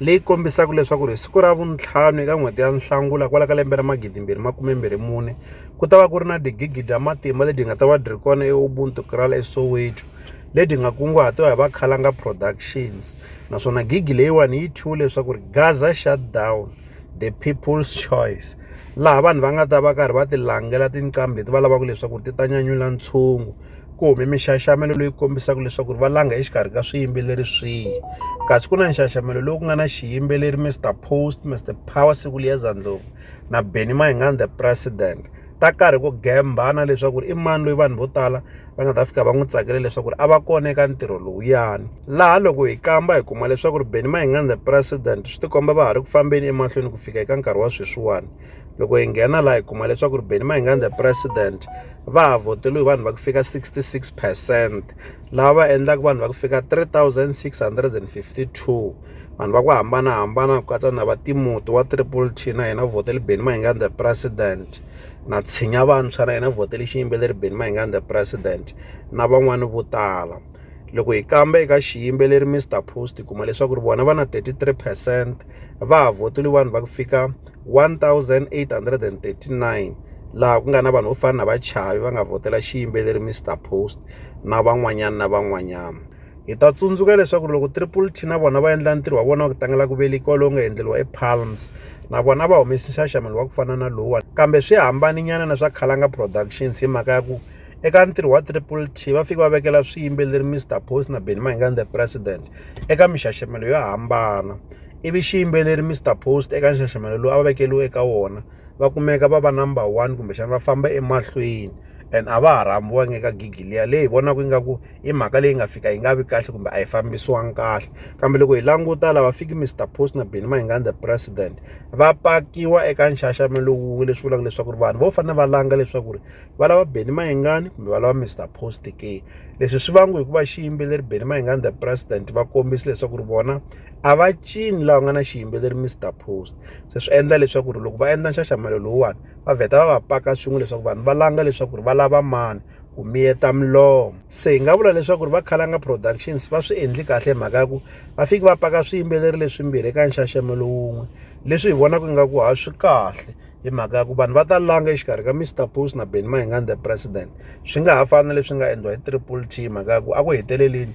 leyi kombisaka leswaku ri hi siku ra vuntlhanu eka n'hweti ya Nhlangula kwala ka lembe ra magidi mbirhi makume mbirhi mune ku ta va ku ri na digigi dya matimba lebyi nga ta va byi ri kona eUbuntu Kral eSoweto lebyi nga kunguhatiwa hi va Khalanga Productions naswona gigi leyiwani yi thyiwe leswaku ri Gaza shutdown the people's choice laha vanhu va nga ta va karhi va ti langela tinqambi leti va lavaka leswaku ti ta nyanyula ntshungu. ku hume minxaxamelo leyi kombisaka leswaku ri va langa exikarhi ka swiyimbeleri swihi kasi ku na nxaxamelo lowu ku nga na xiyimbeleri Mr Post Mr Power Sikuliyeza Ndlovu na Benny Mayengani the President ta karhi ku gembana leswaku i mani loyi vanhu vo tala va nga ta fika va n'wi tsakele leswaku a va kona eka ntirho lowuyani laha loko hi kamba hi kuma leswaku ri Benny Mayengani the President swi tikomba va ha ri ku fambeni emahlweni ku fika eka nkarhi wa sweswiwani loko hi nghena laha hi kuma leswaku ri beni mahingani the president va ha voteriwe hi vanhu va ku fika 66 percent lava va endlaka vanhu va ku fika 3652 vanhu va ku hambanahambana ku katsa na va timuti wa triple t na yena votele beni mahingani the president na tshinya vantshwa na yena votele xiyimbeleri beni mahingani the president na van'wani vo tala loko hi kamba eka xiyimbeleri mr post hi kuma leswaku ri vona va na 33 percent va ha voteliwe vanhu va ku fika 1839 laha ku nga na vanhu vo fana na vachavi va nga vhotela xiyimbeleri Mr Post na van'wanyana na van'wanyana hi ta tsundzuka leswaku loko triple t na vona va endla ntirho wa vona wa ku tlangela ku velekiwa lowu nga endleriwa epalms na vona va humesi nxaxamelo wa ku fana na lowuwani kambe swi hambaninyana na swa khalanga productions hi mhaka ya ku eka ntirho wa triple t va fike va vekela swiyimbeleri mr post na benny mahinga the president eka mixaxamelo yo hambana ivi xiyimbeleri Mister Post eka nxaxamelo lowu a va vekeriwe eka wona va kumeka va va number one kumbexana va famba emahlweni and a va ha rhambiwangi eka gigi liya leyi hi vonaka ingaku i mhaka leyi nga fika yi nga vi kahle kumbe a yi fambisiwangi kahle kambe loko hi languta lava fiki Mister Post na Benny Mayengani the president va pakiwa eka nxaxamelo wun'we leswi vulaka leswaku ri vanhu vo fanele va langa leswaku ri va lava Benny Mayengani kumbe va lava Mister Post ke leswi swi vangiwa hikuva xiyimbeleri Benny Mayengani the president va kombisa leswaku ri vona a va cini lava nga na xiyimbeleri Mister Post se swi endla leswaku ri loko va endla nxaxamelo lowuwani va vheta va va paka swin'we leswaku vanhu va langa leswaku ri va lava mani ku miyeta milomo se hi nga vula leswaku ri va Khalanga Productions va swi endli kahle hi mhaka ya ku va fiki va paka swiyimbeleri leswimbirhi eka nxaxamelo wun'we leswi hi vonaka ingaku ha swi kahle hi mhaka ya ku vanhu va ta langa exikarhi ka Mister Post na Benny Mayengani the president swi nga ha fani na leswi nga endliwa hi Triple T hi mhaka ya ku a ku heteleleni